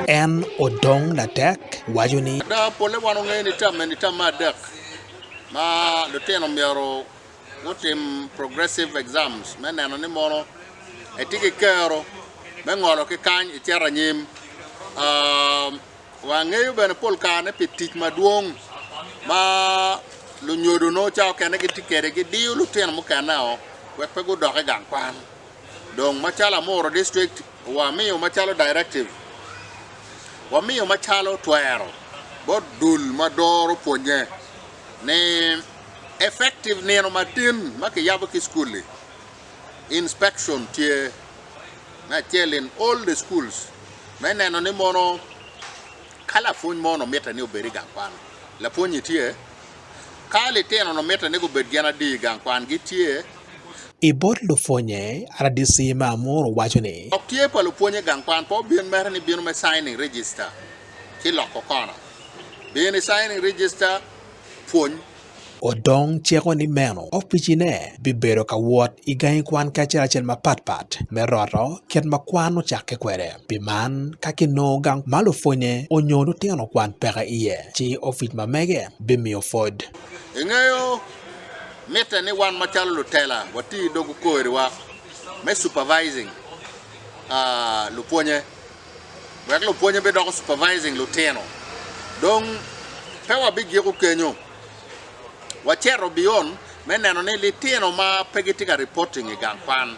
En odong latek waco ni. Ada, polle wan ongeyo ni tam eni tam me adek ma lutino myero gutim progressive exams me neno ni mono etye ki kero me ngolo ki kany ecito anyim. Wangeyo bene pol kare ni pi tic madwong ma lunyodo nongo cawa okene gitye kwede gidiyo lutino mukene-o wek pe gudok i gang kwan. Dong macalo amuro district wamiyo macalo directive wamiyo macalo twero bot dul ma doro pwonye ni effective nino matin ma kiyabo ki school li inspection tye me acel in all the schools me neno ni mono ka lapwony mo ni mitte ni obed i gang kwan lapwonyi tye Ka litino-nu mitte ni gubed gin adi i gang kwan, gitye. I bot lupwonnye, RDC me Amur waco ni. Lok tye pa lupwonye gang kwan pe obin mere ni bino me signing register ki loko kona. Bino i signing register pwony. Odong ciko ni meno opicine bibedo ka wot i gangi kwan kacel acel mapat pat me roto kit ma kwan ocakke kwede. Pi man, ka kinongo gang ma lupwonye onyo lutino kwan peke iye, ci opic ma mege bimiyo pwod. Ingeyo, mitte ni wan macalo lutela wati i dog okoriwa me supervising lupwonye wek lupwonye bidoko supervising lutino. Dong pe wabigiko kenyo, waceto biyon me neno ni litino ma pe gitye ka reporting i gang kwan,